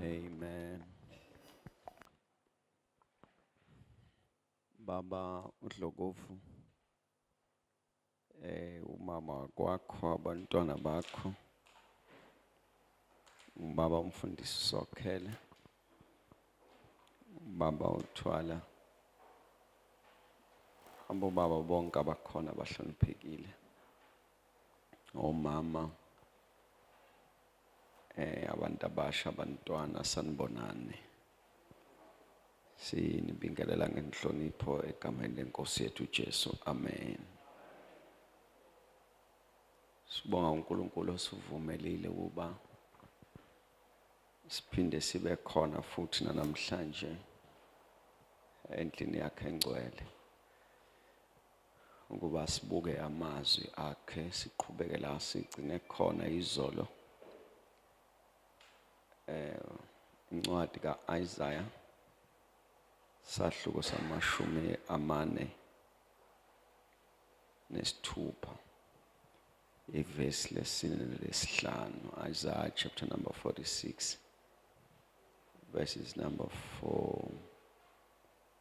Amen. Baba uDlokovu eh umama kwakho abantwana bakho ubaba umfundisi sokhele baba uthwala abo baba bonke abakhona bahloniphekile omama eh abantu abasha abantwana sanibonani sinibingelela ngenhlonipho egameni lenkosi yethu Jesu amen Sibonga uNkulunkulu osivumelile ukuba siphinde sibe khona futhi namhlanje endlini yakhe engcwele Ukuba sibuke amazwi akhe siqhubeke la sigcine khona izolo eh incwadi kaIsaya sahluko samashumi amane nesithupha ivesi lesine lesihlanu Isaiah chapter number 46 verses number 4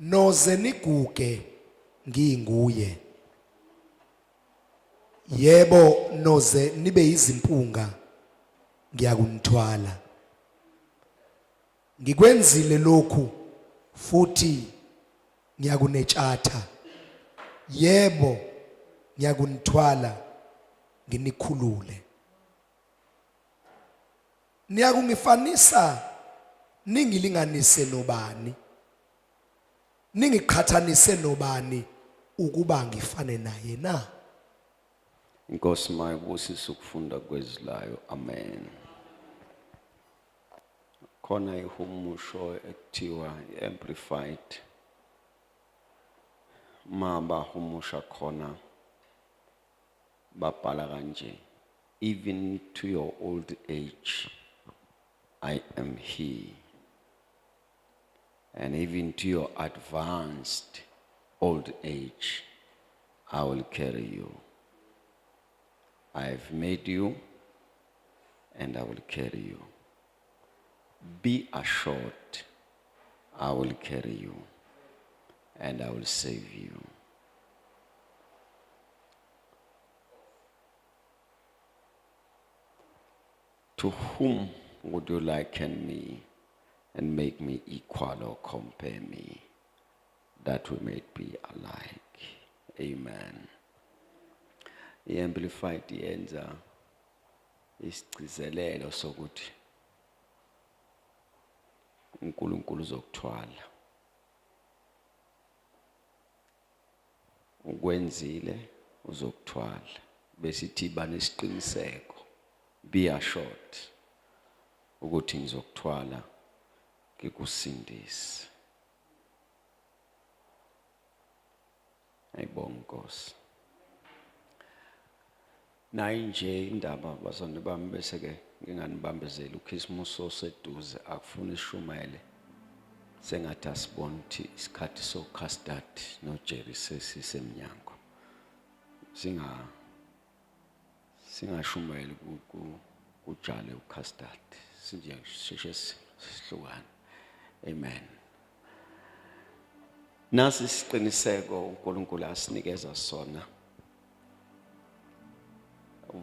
Noze niguge nginguye. Yebo noze nibe izimpunga ngiyakunithwala. Ngikwenzile lokhu futhi ngiyakunetshatha. Yebo ngiyakunithwala nginikhulule. niyakungifanisa ningilinganise nobani ningiqhathanise nobani ukuba ngifane naye na inkosi mayibusise ukufunda kwezilayo amen khona ihumusho ekuthiwa i-amplified ma bahumusha khona babhala kanje even to your old age i am here and even to your advanced old age i will carry you i have made you and i will carry you be assured i will carry you and i will save you To whom would you liken me and make me equal or compare me that we may be alike? Amen. I-Amplified yenza isigcizelelo sokuthi uNkulunkulu uzokuthwala. ukwenzile uzokuthwala besithi banesiqiniseko be assured ukuthi ngizokuthwala ngikusindise ayibonga inkosi Nayi nje indaba bazane bami bese ke nginganibambezeli uKhisimusi oseduze akufuni ishumayele sengathi asibona ukuthi isikhathi so custard no Jerry sesisemnyango singa singashumayeli ku kujale ucustard sinje sheshe sihlukana amen nasi isiqiniseko uNkulunkulu asinikeza sona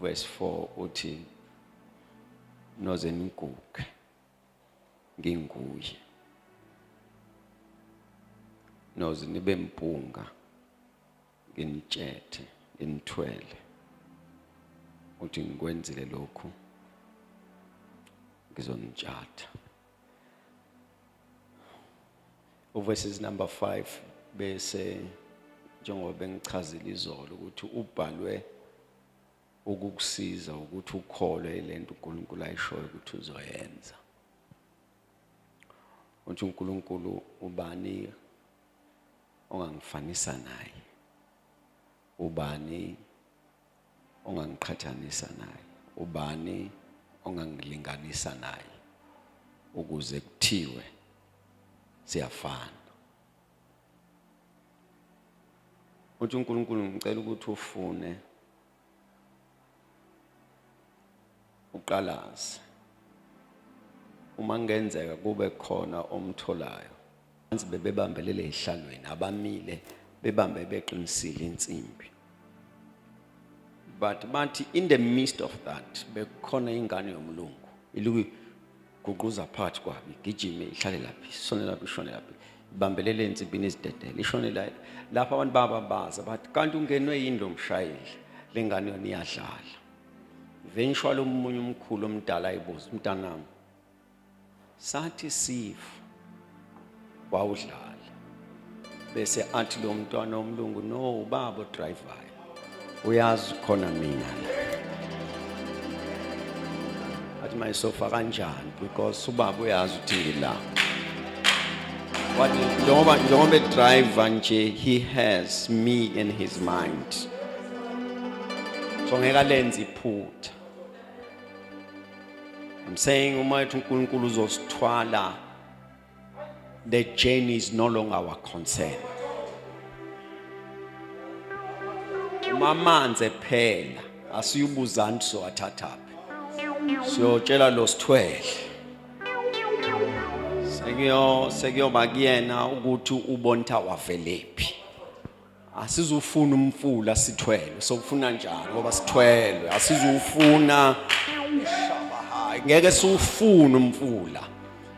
verse 4 uthi noze niguge nginguye noze nibe mpunga nginitshethe nginithwele uthi ngikwenzile lokhu ngizonitshatha uverses number 5 bese njengoba bengichazile izolo ukuthi ubhalwe ukukusiza ukuthi ukholwe lento uNkulunkulu ayishoyo ukuthi uzoyenza uthi uNkulunkulu ubani ongangifanisa naye Ubani ongangiqhathanisa naye? Ubani ongangilinganisa naye ukuze kuthiwe siyafana? Uthi uNkulunkulu ngicela ukuthi ufune uqalaze uma kungenzeka kube khona omtholayo anzi bebebambelele ehlalweni abamile bebambe beqinisile insimbi but bathi in the midst of that bekhona ingane yomlungu iluku guquza phakathi kwabi gijime ihlale laphi sone laphi ishone laphi ibambelele ensimbini izidedele ishone la lapho abantu bababaza bathi kanti ungenwe yini lo mshayeli le ngane yona iyadlala eventually omunye umkhulu omdala ayibuza umntanami sathi sifa wawudlala bese athi lo mntwana omlungu no ubaba odrivayo uyazi khona mina la athi mayisofa kanjani because ubaba uyazi ukuthi ngila wathi njengoba njengoba edriva nje he has me in his mind so ngeke alenze iphutha I'm saying uma ethi uNkulunkulu uzosithwala the journey is no longer our concern uma amanzi ephela asiyubuzani sowathathaphi siyotshela lo sithwele sekuyo sekuyoba kuyena ukuthi ubonitha wavelephi asizufuna umfula sithwele sokufuna njani ngoba sithwele asizufuna shabahayi ngeke siwufuna umfula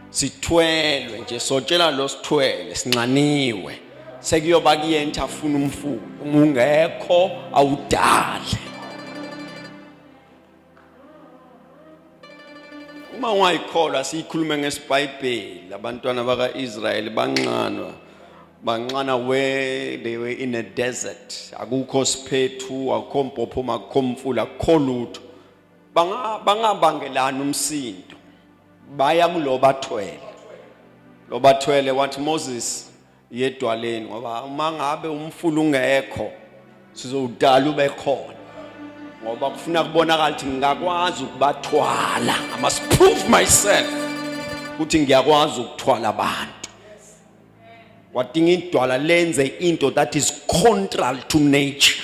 sithwelwe nje sotshela lo sithwele sinxaniwe sekuyoba kuyenta afuna umfula ungekho awudale uma ungayikholwa siyikhulume ngesibhayibheli abantwana baka-israyeli banxanwa banxana where they were in a desert akukho siphethu akukho mpophomo akukho mfula akukho lutho bangabangelani umsindo baya kulo bathwele lo bathwele wathi moses yedwaleni ngoba uma ngabe umfula ungekho sizowudala ube khona ngoba kufuna kubonakala ukuthi ngingakwazi ukubathwala i must prove myself ukuthi ngiyakwazi ukuthwala abantu wadinga idwala lenze into that is contrary to nature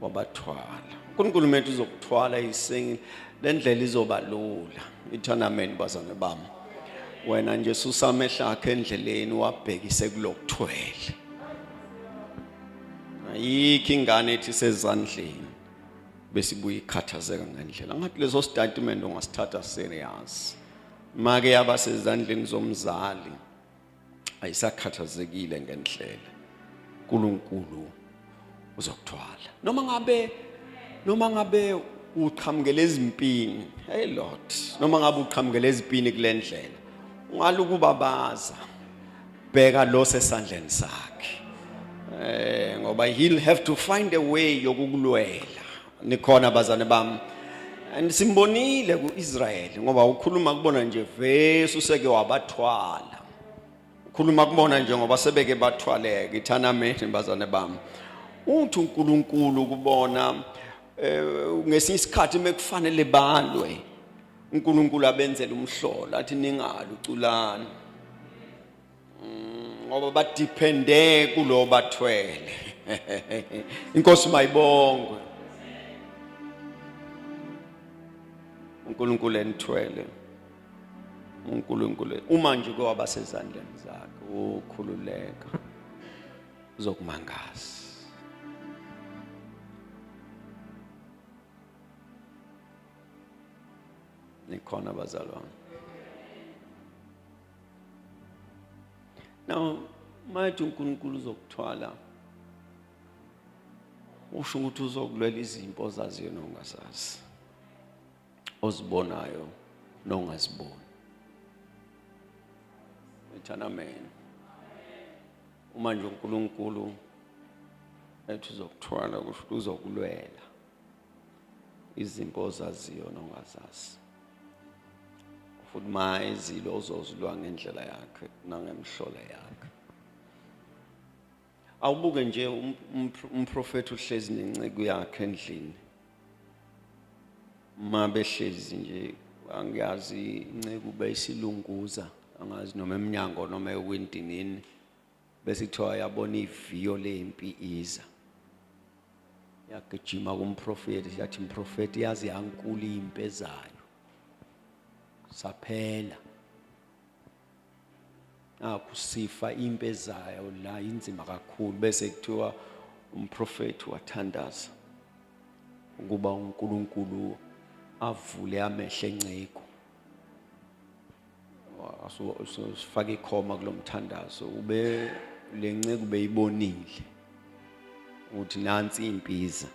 wabathwala uNkulunkulu methu uzokuthwala isengile lendlela izoba lula ithana amen bazane bami wena nje susa amehla akhe endleleni wabhekise kulokuthwele ayikho ingane ethi sezandleni besibuye ikhathazeka ngendlela ngathi leso statement ungasithatha serious make yaba sezandleni zomzali ayisakhathazekile ngendlela uNkulunkulu uzokuthwala noma ngabe noma ngabe uqhamukele ezimpini hey lord noma ngabe uqhamukele ezipini kulendlela ungalukubabaza bheka lo sesandleni sakhe eh ngoba he'll have to find a way yokukulwela nikhona bazane bami and simbonile ku-israyeli ngoba ukhuluma kubona nje vesi useke wabathwala ukhuluma kubona nje ngoba sebeke bathwaleke ithanameni bazane bami uthi unkulunkulu kubona eh, ngesinye isikhathi mekufanele balwe unkulunkulu abenzele umhlola athi ningali uculani ngoba badepende kulo bathwele inkosi mayibongwe uNkulunkulu enithwele uNkulunkulu uma nje kwaba sezandleni zakhe ukhululeka uzokumangaza nikhona bazalwane Now, mathi uNkulunkulu uzokuthwala usho ukuthi uzokulwela izimpo ozaziyo nongazazi ozibonayo nongaziboni ethana amen uma nje uNkulunkulu ethi uzokuthwala kusho ukuthi uzokulwela izinto ozaziyo nongazazi futhi uma ezile uzozilwa ngendlela yakhe nangemhlola yakhe awubuke nje um-, um-, umprofethi uhlezi nenceku yakhe endlini uma behlezi nje angiyazi inceku beyisilunguza angazi noma emnyango noma ewindinini bese kuthiwa yabona iviyo lempi iza yagijima kumprofeti yathi mprofeti yazi yankulu impi ezayo saphela nakhu sifa impi ezayo la inzima kakhulu bese kuthiwa umprofeti wathandaza ukuba uNkulunkulu avule amehlo enceku sifake ikhoma kulo mthandazo ube le nceku beyibonile ukuthi nansi impiza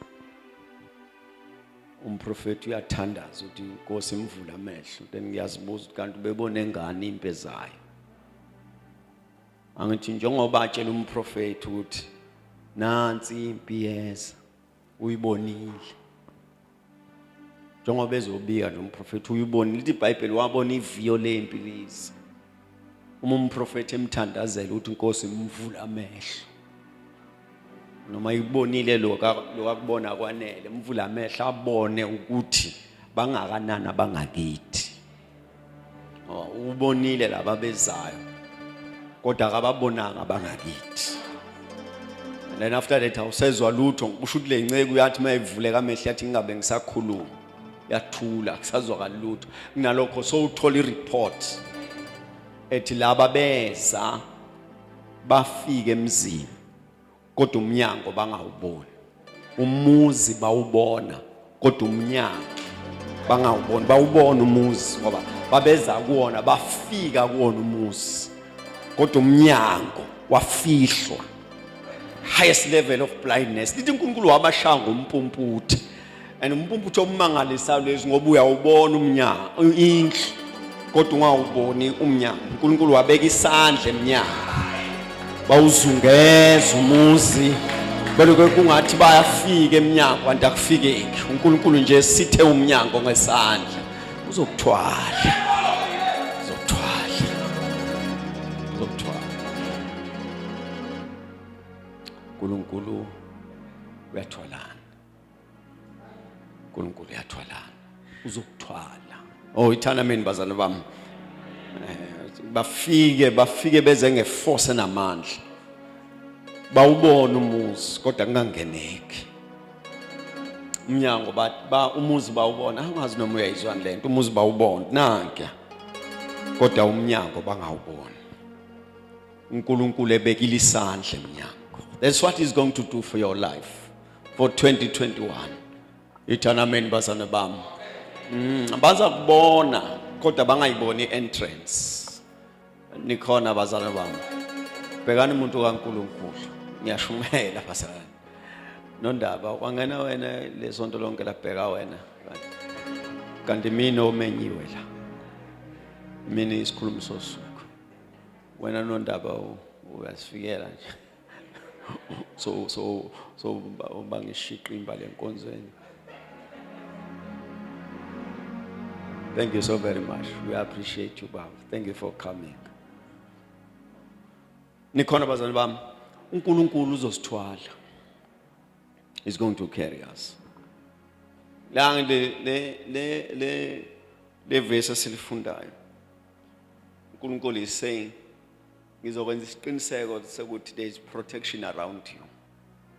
umprofeti uyathandaza ukuthi inkosi imvula amehlo then ngiyazibuza ukuthi kanti ubebone ngani impe zayo angithi njengoba atshela umprofeti ukuthi nansi impi yeza uyibonile njengoba ezobika nje umprofethi uyibonile ithi ibhayibheli wabona iviyo lempi lize uma umprofethi emthandazela ukuthi inkosi imvula amehlo noma ikubonile lo kakubona kwanele mvula amehlo abone ukuthi bangakanani abangakithi ubonile laba bezayo kodwa akababonanga abangakithi and then after that awusezwa lutho kusho ukuthi le nceku yathi uma ivuleka amehlo yathi ngingabe ngisakhuluma yathula kusazwakali lutho kunalokho sowuthola ireport ethi laba beza bafike emzini kodwa umnyango bangawuboni umuzi bawubona kodwa umnyango bangawuboni bawubona umuzi ngoba babeza kuwona bafika kuwona umuzi kodwa umnyango wafihlwa highest level of blindness lithi uNkulunkulu wabashaya ngompumputhi and umpumputho omangalisayo lezi ngoba uyawubona umnyango indlu kodwa ungawuboni umnyango unkulunkulu wabeka isandla emnyango bawuzungeza umuzi beloke kungathi bayafika emnyango kanti akufikeki unkulunkulu nje sithe umnyango ngesandla uzokuthwala uzokuthwala uzokuthwala unkulunkulu uyathwalana uNkulunkulu uyathwalana uzokuthwala oh ithana mina bazana bami eh, bafike bafike beze ngeforce namandla bawubona umuzi kodwa kungangeneki umnyango ba umuzi bawubona angazi noma uyayizwani lento umuzi bawubona nanke kodwa umnyango bangawubona uNkulunkulu ebekile isandla emnyango that's what is going to do for your life for 2021 ithana amen bazana bami mm, baza kubona kodwa bangayiboni entrance nikhona bazana bami bhekani umuntu kaNkuluNkulu ngiyashumela bazana nondaba wangena wena lesonto lonke labheka wena kanti mina omenyiwe la mina isikhulumi sosuku wena nondaba uyasifikela nje so so so bangishiqa imbali enkonzweni Thank you so very much. We appreciate you, Baba. Thank you for coming. Nikhona bazali bami, uNkulunkulu uzosithwala. He's going to carry us. La le le le le le verse silifundayo. uNkulunkulu is saying ngizokwenza isiqiniseko sokuthi there is protection around you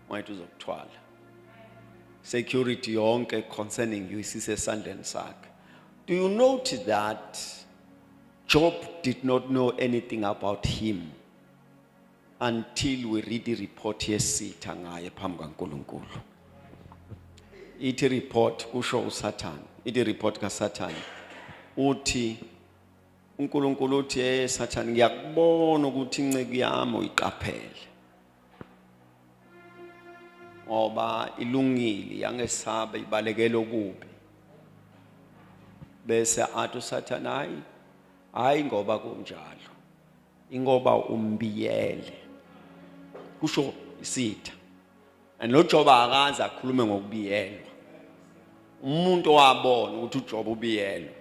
manje uzokuthwala security yonke concerning you isisesandleni sakhe do you notice that job did not know anything about him until we read the report yesitha ngaye phambi kaNkuluNkulu ithi report kusho uSathane ithi report kaSathane uthi uNkulunkulu uthi hey sathane ngiyakubona ukuthi inceku yami uyiqaphele ngoba ilungile yangesaba ibalekela okubi bese athi usathane hayi hayi ngoba kunjalo ingoba umbiyele kusho isitha and lo Joba akaze akhulume ngokubiyelwa umuntu owabona ukuthi uJoba ubiyelwa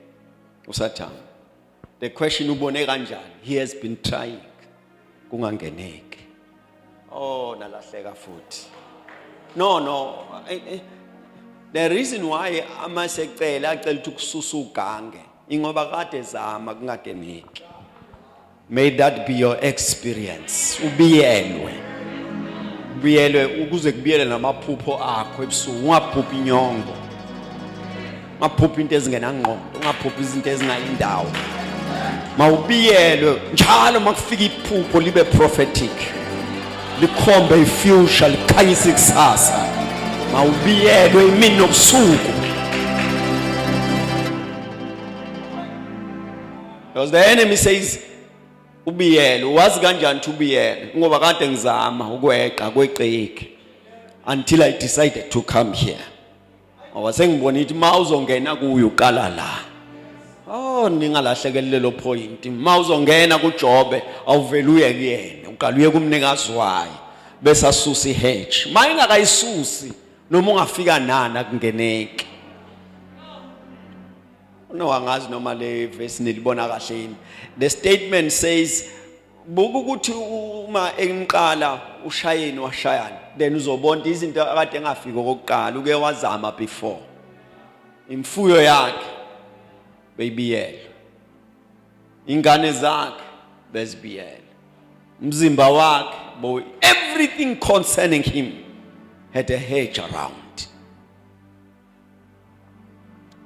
usathana the question ubone kanjani he has been trying kungangeneki Oh nalahleka futhi. No no. Eh, eh. The reason why ama secela acela ukuthi kususa ugange ingoba kade zama kungagemeki. May that be your experience. Ubiyelwe. Ubiyelwe ukuze kubiyele namaphupho akho ebusuku ungaphuphi inyongo. ungaphuphi into ezingenangqondo ungaphuphi izinto ezingayindawo mawubiyelwe njalo makufika iphupho libe prophetic likhombe ifuture likhanyisa ikusasa mawubiyelwe imini nobusuku because the enemy says ubiyele wazi kanjani ukuthi ubiyele ngoba kade ngizama ukweqa kweqeki until i decided to come here ngoba sengibona ithi ma uzongena kuyo uqala la oh ningalahlekelele lelo point ma uzongena kuJobe awuvele uye kuyena uqala uye kumnikazi wayo bese asusa ihedge ma ingakayisusi noma ungafika nani akungeneki no angazi noma le verse nilibona kahle yini the statement says buka ukuthi uma emqala ushayeni washayana then uzobona izinto akade engafiki okokuqala uke wazama before imfuyo yakhe beyibiyela ingane zakhe bezibiyela umzimba wakhe boy everything concerning him had a hedge around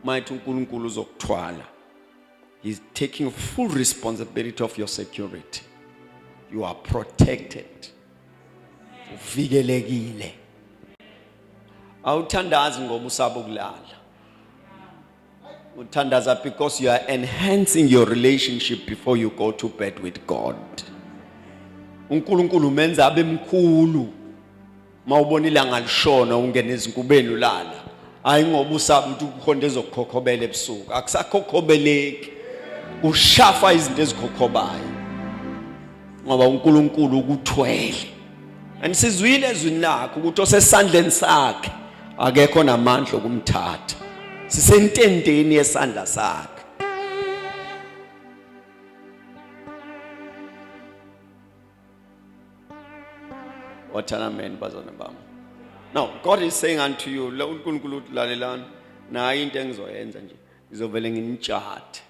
mayithi uNkulunkulu uzokuthwala He's taking full responsibility of your security. You are protected. Uvikelekile. Awuthandazi ngoba usaba ukulala. Uthandaza because you are enhancing your relationship before you go to bed with God. uNkulunkulu umenza abe mkhulu uma ubona ilanga lishona ungena ezinkubeni ulala hayi ngoba usaba ukuthi kukhonto ezokukhokhobela ebusuku akusakhokhobeleki ushafa izinto ezikhokhobayo ngoba uNkulunkulu ukuthwele anisizwile ezwini lakhe ukuthi osesandleni sakhe akekho namandla okumthatha sisentendeni yesandla sakhe wathana amen bazana bami now god is saying unto you la uNkulunkulu uthi lalelani nayi into engizoyenza nje ngizovele nginitshathe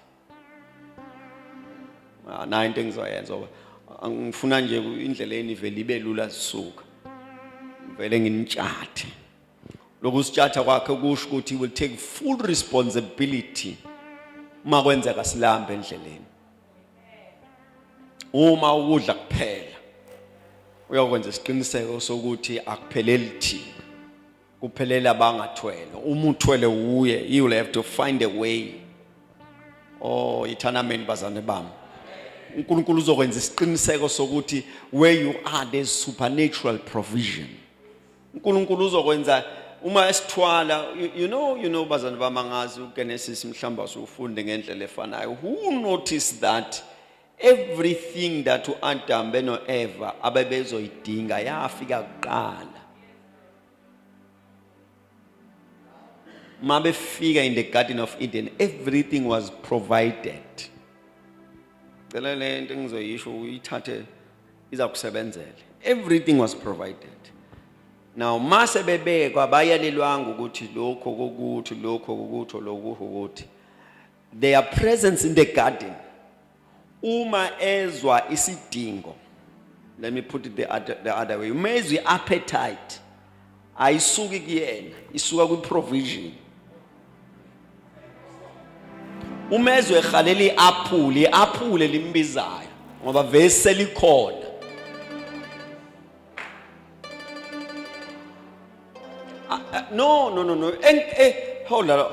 ah, nayi into engizoyenza ngoba angifuna nje indlela enivele ibe lula zisuka ngivele nginitshathe lokhu sitshatha kwakhe kusho ukuthi will take full responsibility uma kwenzeka silambe endleleni uma ukudla kuphela uyokwenza isiqiniseko sokuthi akupheleli thina kuphelele abangathwele uma uthwele wuye you will have to find a way oh ithanameni bazane bami uNkulunkulu uzokwenza isiqiniseko sokuthi where you are there's supernatural provision uNkulunkulu uzokwenza uma esithwala you know you know bazana bamangazi uGenesis mhlamba usufunde ngendlela efanayo who noticed that everything that uAdam benoEva abebezoyidinga yafika kuqala uma befika in the garden of Eden everything was provided cela lento engizoyisho uyithathe izakusebenzela everything was provided now mase bebekwa bayalelwanga ukuthi lokho kokuthi lokho kokuthi lokho kokuthi their presence in the garden uma ezwa isidingo let me put it the other, the other way uma ezwa i-appetite ayisuki kuyena isuka kwi provision uma ezwe ehalela i-aphule i-aphule limbizayo ngoba vele selikhona no no no no eh, eh, hold on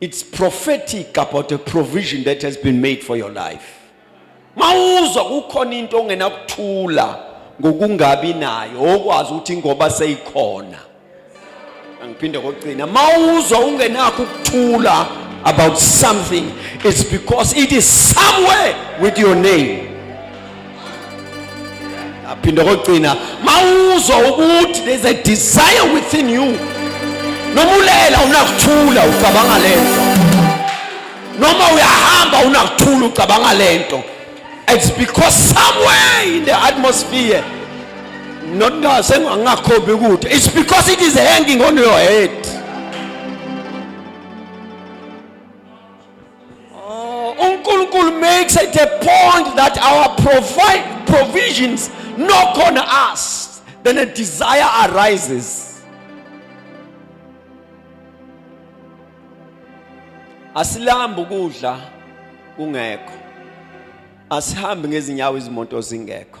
It's prophetic about a provision that has been made for your life. Mawuzwa kukhona into ongenakuthula ngokungabi nayo okwazi ukuthi ngoba seyikhona. Angiphinde kokugcina mawuzwa ungenakho ukuthula about something it's because it is somewhere with your name. aphinde kokugcina mawuzwa ukuthi there's a desire within you noma ulela unakuthula ucabanga lento noma uyahamba unakuthula ucabanga lento it's because somewhere in the atmosphere not ngasengangakhombi ukuthi it's because it is hanging on your head Oh, uNkulunkulu makes it a point that our provide provisions knock on us, then a desire arises. Asilambi ukudla kungekho. Asihambi ngezinyawo izimoto zingekho.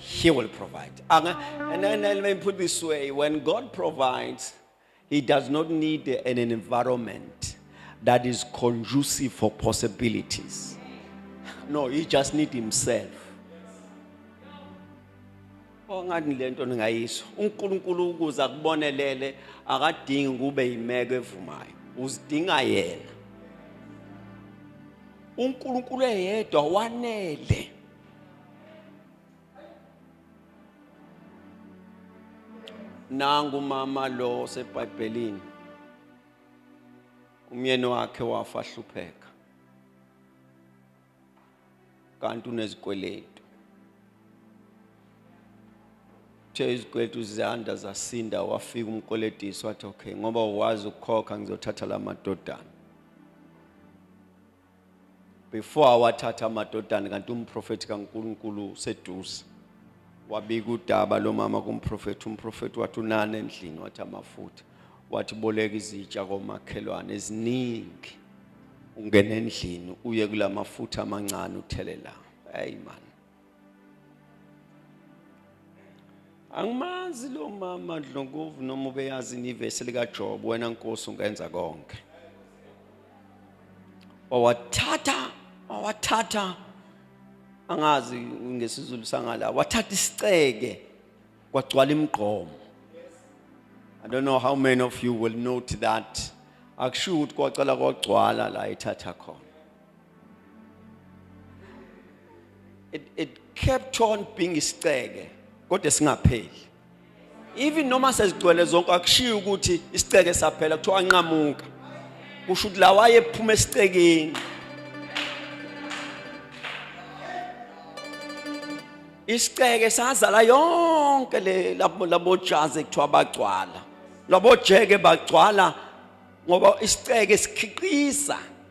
He will provide. And, and, and let me put this way when God provides, He does not need an environment that is conducive for possibilities. No, He just needs Himself. ongani le nto ningayisho unkulunkulu ukuze akubonelele akadingi ukube yimeko evumayo uzidinga yena unkulunkulu eyedwa wanele nangu mama lo osebhayibhelini umyeni wakhe wafa hlupheka kanti unezikweletu uthe izikweletu ziyanda zasinda wafika umkoletisi wathi okay ngoba wazi ukukhokha ngizothatha la madodana before awathatha amadodana kanti umprofethi kaNkulunkulu useduze wabika udaba lomama kumprofethi umprofethi wathi unani endlini wathi amafutha wathi boleka izitsha komakhelwane eziningi ungena endlini uye kulamafutha amancane uthelela hey man angimazi lo mama dlongovu noma ubeyazi inivesi likajob wena nkosi ungenza konke wawathatha wawathatha angazi ngesizulu sangala wathatha isiceke kwagcwala imigqomo i don't know how many of you will note that akusho ukuthi kwacala kwagcwala la ithatha khona it, it kept on being isiceke kodwa singapheli even noma sezigcwele zonke akushiyi ukuthi isiceke saphela kuthiwa anqamuka kusho ukuthi la wayephuma esicekeni isiceke sazala yonke le labojazi ekuthiwa bagcwala labojeke bagcwala ngoba isiceke sikhiqiza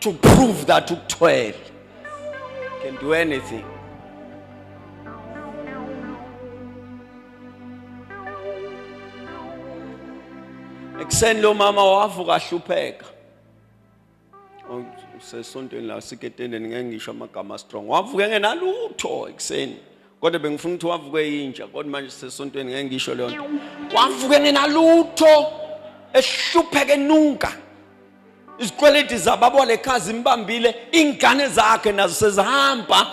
to prove that ukuthwele can do anything ekuseni lo mama wavuka ahlupheka usesontweni la siketendeni ngeke ngisho amagama strong wavuka engenalutho ekuseni kodwa bengifuna ukuthi wavuke yinja kodwa manje sisesontweni ngeke ngisho leyo nto wavuke ngenalutho ehlupheke nunka izikweleti zababo lekhaya zimbambile ingane zakhe nazo sezihamba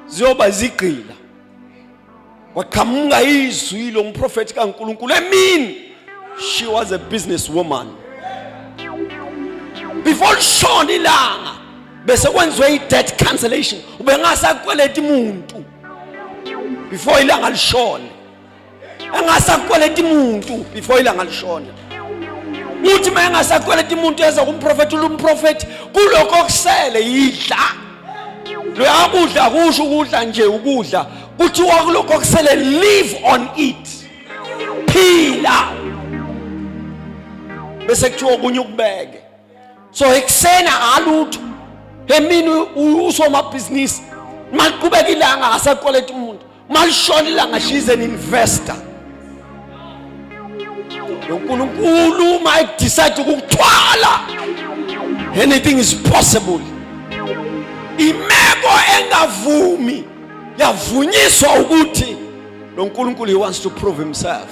ziyoba zigqila kwaqhamuka izwi lo mprofethi kaNkuluNkulu emini she was a business woman before lishona ilanga bese kwenziwe i-debt cancellation ubengasakweleti muntu before ilanga lishone engasakweleti muntu before ilanga lishone uthi uma engasakweleti muntu eza kumprofethi ulumprofethi kulokho okusele yidla loya kudla kusho ukudla nje ukudla kuthiwa kulokho okusele live on it phila bese kuthiwa okunye ukubeke so ekuseni akalutho emini usomabhizinisi maliqhubeka ilanga akasakweleta umuntu malishona ilanga she's an investor unkulunkulu uma ekudicide ukukuthwala anything is possible imeko engavumi yavunyiswa ukuthi lo nkulunkulu he wants to prove himself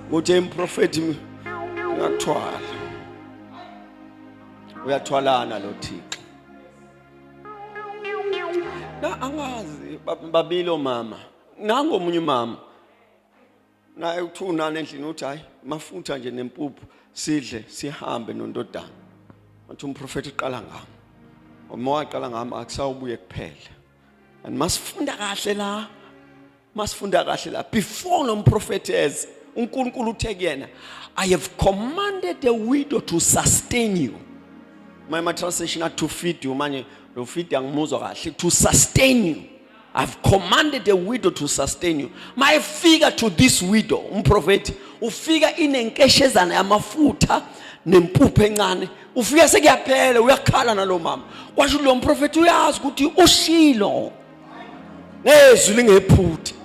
ukuthi emprofethi ngakuthwala uyathwalana lo Thixo na angazi babili omama nango omunye umama naye uthunana endlini uthi hayi mafutha nje nempuphu sidle sihambe nondodana wathi umprofeti uqala ngami uma waqala ngami akusawubuye kuphela and masifunda kahle la masifunda kahle la before lo mprofethi eze uNkulunkulu uthe kuyena I have commanded the widow to sustain you my my translation at to feed you manje lo feed angimuzwa kahle to sustain you I've commanded the widow to sustain you my figure to this widow umprofethi ufika inenkeshezana yamafutha nempupho encane ufike sekuyaphela uyakhala nalo mama kwasho lo mprofethi uyazi ukuthi ushilo ngezwi lingephuthi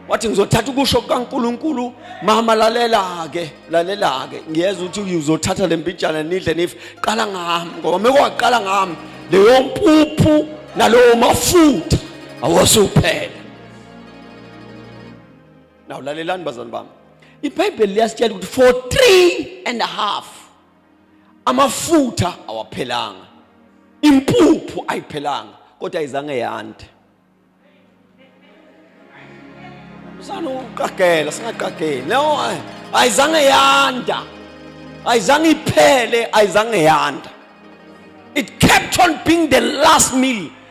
wathi ngizothatha ukusho kukaNkuluNkulu mama lalela ke lalela ke ngiyeza ukuthi uzothatha lempijana nidle nife qala ngami ngoba mekwaqala ngami leyo mpuphu nalowo mafutha awosuphela now lalelani bazalwane bami ibhayibheli liyasitshela ukuthi for three and a half amafutha awaphelanga impuphu ayiphelanga kodwa izange yande msana uqagela singaqageli no ayizange yanda ayizange iphele ayizange yanda it kept on being the last meal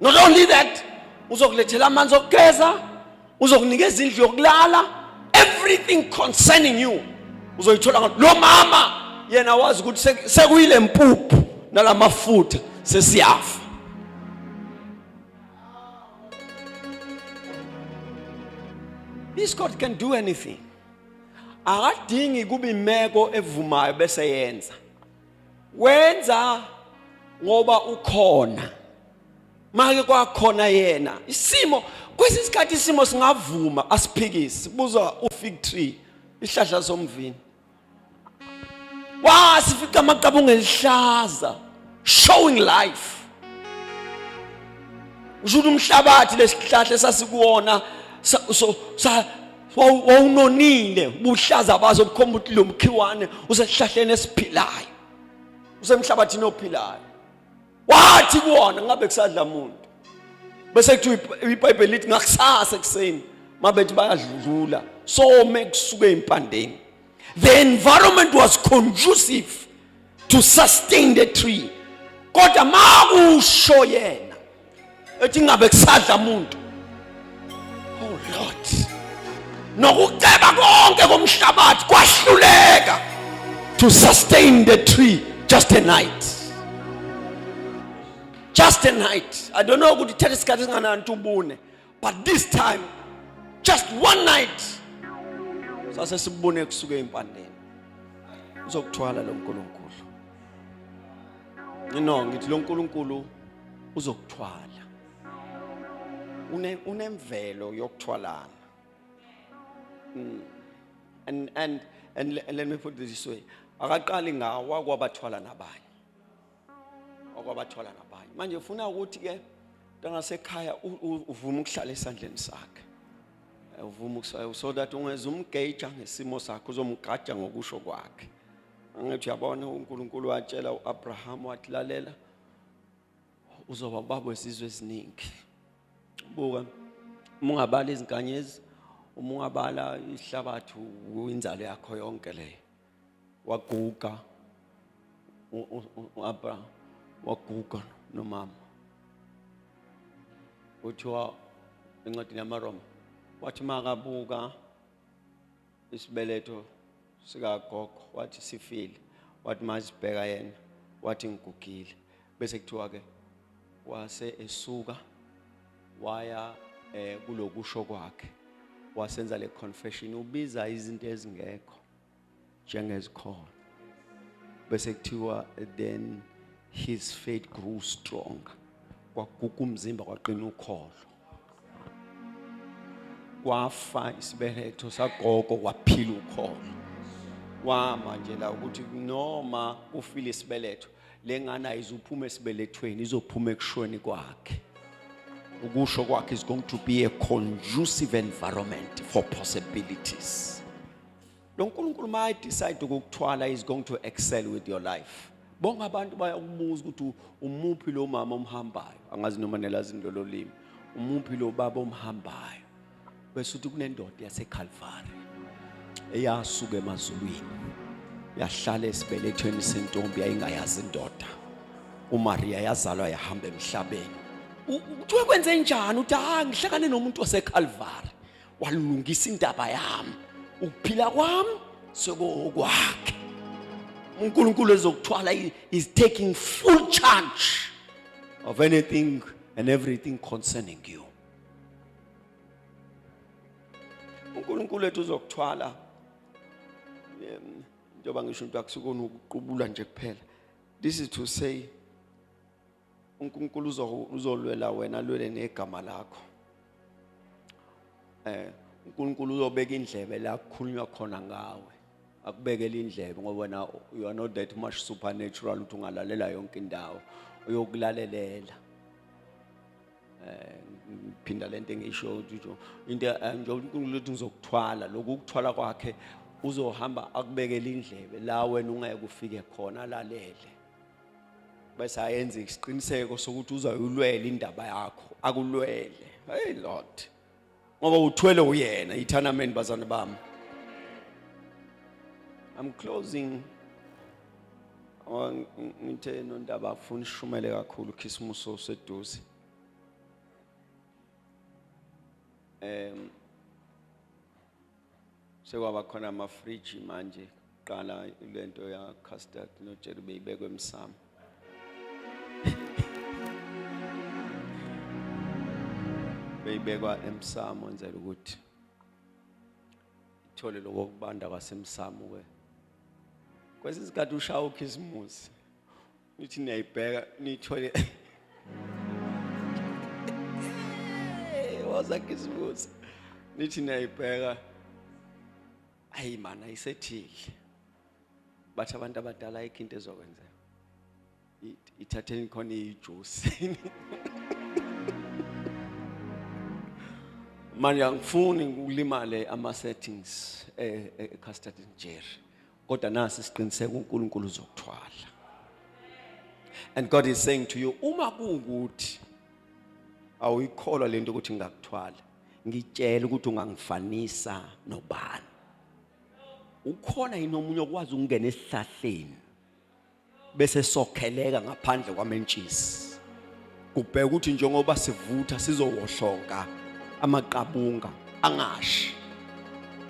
not only that uzokulethela amanzi okugeza uzokunikeza indlu yokulala everything concerning you uzoyithola ngayo lo mama yena wazi ukuthi sekuyile mpuphu nalamafutha sesiyafa This God can do anything. Akadingi kuba imeko evumayo bese yenza. wenza ngoba ukhona make kwakhona yena isimo kwesinye isikhathi isimo singavuma asiphikisi buza ufig tree ihlahla somvini wasifica amaqabunga elihlaza showing life usho ukuthi umhlabathi lesihlahla esasikuwona so sa wawunonile ubuhlaza bazo bukhomba ukuthi lo mkhiwane usesihlahleni esiphilayo usemhlabathini ophilayo wathi kuwona ngabe kusadla muntu bese kuthi ibhayibheli lithi ngakusasa ekuseni mabethi bayadlula some kusuke impandeni the environment was conducive to sustain the tree kodwa makusho yena ethi ngabe kusadla umuntu oh lord nokuceba konke komhlabathi kwahluleka to sustain the tree just a night just a night i don't know ukuthi thatha isikhathi singanani ubune but this time just one night sase sibone kusuke impandeni uzokuthwala lo nkulunkulu no ngithi lo nkulunkulu uzokuthwala une unemvelo yokuthwalana mm. and and and let me put this way akaqali ngawa kwabathwala nabanye okwabathola nabanye manje ufuna ukuthi ke ntangasekhaya uvume ukuhlala esandleni sakhe eh, uvume eh, so that ungeza umgeja ngesimo sakhe uzomgaja ngokusho kwakhe angithi uyabona uNkulunkulu watshela uAbraham wathi lalela uzoba babo esizwe eziningi buka uma ungabala izinkanyezi uma ungabala ihlabathi uyinzalo yakho yonke leyo waguga u-abraham waguga nomama kuthiwa encwadini yamaroma wathi makabuka isibeletho sikagogo wathi sifile wathi mazibheka yena wathi ngigugile bese kuthiwa ke wase esuka waya eh kulokusho kwakhe wasenza le confession ubiza izinto ezingekho njengezikhona bese kuthiwa then his faith grew stronger kwaguga umzimba kwaqina ukholo kwafa isibeletho sagogo kwaphila ukholo wama nje la ukuthi noma kufile isibeletho lengane ayizuphuma esibelethweni izophuma ekushweni kwakhe ukusho kwakhe is going to be a conducive environment for possibilities lo nkulunkulu uma decide ukukuthwala is going to excel with your life bonke abantu bayakubuza ukuthi umuphi lo mama omhambayo angazi noma nelazini lolo limi umuphi lo baba omhambayo bese uthi kunendoda yaseKalvari eyasuka emazulwini yahlala esibelethweni sentombi yayingayazi indoda uMaria yazalwa yahamba emhlabeni kuthiwe kwenze njani uthi ha ah, ngihlakane nomuntu waseKalvari walungisa indaba yami ukuphila kwami sekokwakhe uNkulunkulu ezokuthwala is taking full charge of anything and everything concerning you uNkulunkulu ethu uzokuthwala njengoba ngisho into akusukona ukuqubula nje kuphela this is to say uNkulunkulu uzolwela wena alwele negama lakho eh uNkulunkulu uzobeka indlebe la kukhulunywa khona ngawe akubekele indlebe ngoba wena you are not that much supernatural ukuthi ungalalela yonke indawo uyokulalela eh phinda lento engisho ukuthi into eh, nje uNkulunkulu uthi ngizokuthwala lokhu ukuthwala kwakhe uzohamba akubekele indlebe la wena ungeke ufike khona lalele bese ayenze isiqiniseko sokuthi uzayulwela indaba yakho akulwele hey lord ngoba uthwele uyena ithanameni bazane bami i'm closing ngithe nondaba afuna ishumele kakhulu khisimuso seduze um sekwaba khona amafriji manje qala lento ya custard no jerry beyibekwe emsamo beyibekwa emsamo nzela ukuthi ithole lokubanda kwasemsamo ke kwesinye isikhathi ushaya ukhisimusi nithi niyayibheka niyithole waza kisibuza nithi niyayibheka ayi mana ayisethile bathi abantu abadala ayikho into ezokwenzeka ithatheni khona ijuice manje angifuni ukulimale ama settings e eh, eh, custard jerry kodwa nasi siqiniseka uNkulunkulu uzokuthwala and God is saying to you uma kuwukuthi awuyikholwa lento ukuthi ngingakuthwala ngitshela ukuthi ungangifanisa nobani ukhona yini omunye okwazi ukungena esihlahleni bese sokheleka ngaphandle kwamentshisi kubheka ukuthi njengoba sivutha sizowohlonga amaqabunga angashi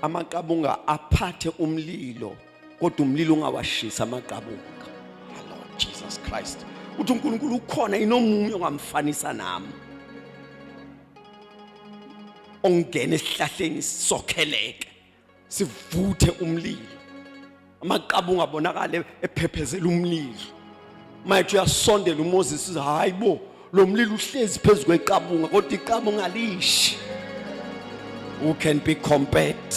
amaqabunga aphathe umlilo kodwa umlilo ungawashisa amaqabunga ah, Lord Jesus Christ uthi uNkulunkulu ukhona inomunye ongamfanisa nami ongena esihlahleni sokheleke sivuthe umlilo amaqaba ungabonakala ephephezela umlilo mayethu uyasondela uMoses uthi hayi bo lo mlilo uhlezi phezu kweqabunga kodwa iqabunga lishi who can be compared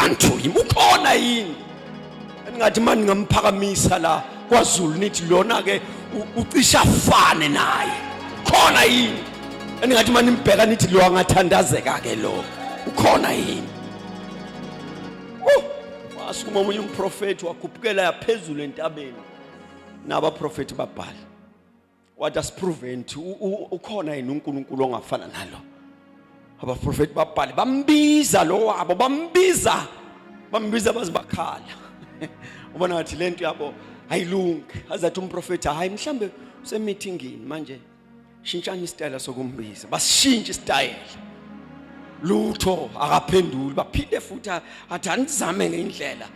unto him ukhona yini engathi manje ngingamphakamisa la kwaZulu nithi lona ke ucisha fane naye khona yini engathi manje nimbheka nithi lo angathandazeka ke lo ukhona yini asukuma omunye umprofethi wakhuphukela yaphezulu entabeni nabaprofethi babhala wathi asipruveni ukuthi u- u- ukhona yini unkulunkulu ongafana nalo abaprofethi babhale bambiza lo wabo bambiza bambiza baze bakhala ubona ngathi le nto yabo ayilungi azathi umprofethi hhayi mhlawumbe usemithingini manje shintshani isitayela sokumbiza basishintshe isitayela lutho akaphenduli baphinde futhi athi anizame ngendlela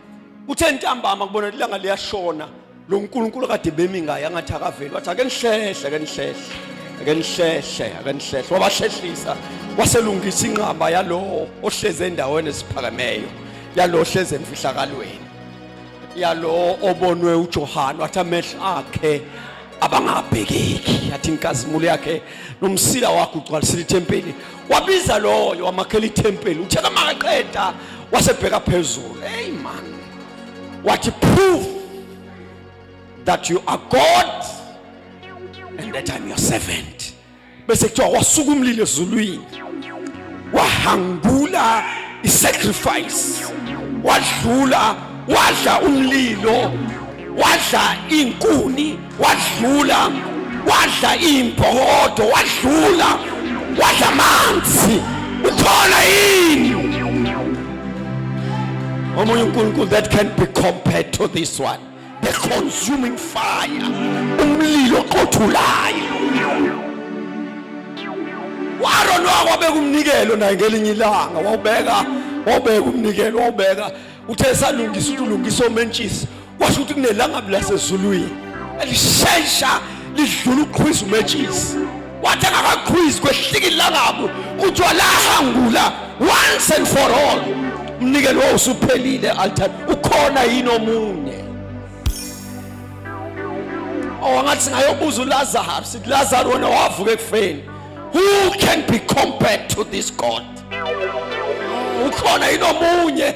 kuthe ntambama kubona ukuthi ilanga liyashona lo nkulunkulu kade bemi ngaye angathi akaveli wathi ake nihlehle ake nihlehle ake nihlehle ake nihlehle wabahlehlisa waselungisa inqaba yalowo ohleze endaweni esiphakemeyo yalowo ohleze emfihlakalweni yalowo obonwe uJohane wathi amehlo akhe abangabhekeki yathi inkazimulo yakhe nomsila wakhe ugcwalisile ithempeli wabiza loyo wamakhela ithempeli uthe kamaqeda wasebheka phezulu hey man what prove that you are God and that I'm your servant bese kuthiwa wasuka umlilo ezulwini wahangula isacrifice wadlula wadla umlilo wadla inkuni wadlula wadla imbhokodo wadlula wadla amanzi ukhona yini omunye unkulunkulu that can be compared to this one the consuming fire umlilo oqothulayo waron wakwabeka umnikelo naye ngelinye ilanga wawubeka wawubeka umnikelo wawubeka uthe salungisa ukuthi ulungisa omentshisi kwasho ukuthi kunelangabi lasezulwini elishesha lidlula ukuqhwiza umetshisi wathi angakaqhwizi kwehlika ilangabu kuthiwa lahangula once and for all umnikelo wawo usuphelile altar ukhona yini omunye owangathi oh, singayobuza ulazaro sithi lazaro wena wavuka ekufeni who can be compared to this god ukhona yini omunye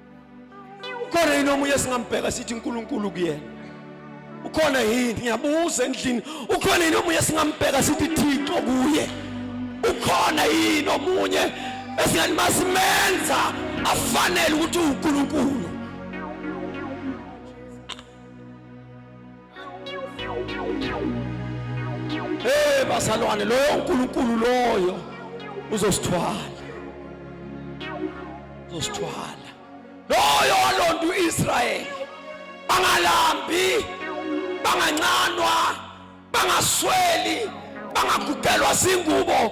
ukhona yini omunye singambheka sithi uNkulunkulu kuyena ukhona yini ngiyabuza endlini ukhona yini omunye singambheka sithi Thixo kuye ukhona yini omunye esingathi masimenza afanele ukuthi uNkulunkulu Hey bazalwane loyo uNkulunkulu loyo uzosithwala. Uzosithwala. Loyo walonda uIsrael. Bangalambi, bangancanwa, bangasweli, bangagugelwa zingubo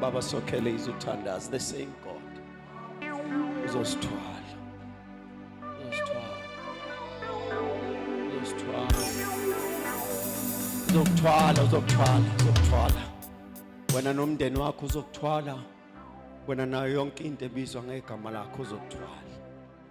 baba sokhele izothandaza the same god uzosithwala uzokuthwala uzokuthwala uzokuthwala wena nomndeni wakho uzokuthwala wena nayo yonke into ebizwa ngegama lakho uzokuthwala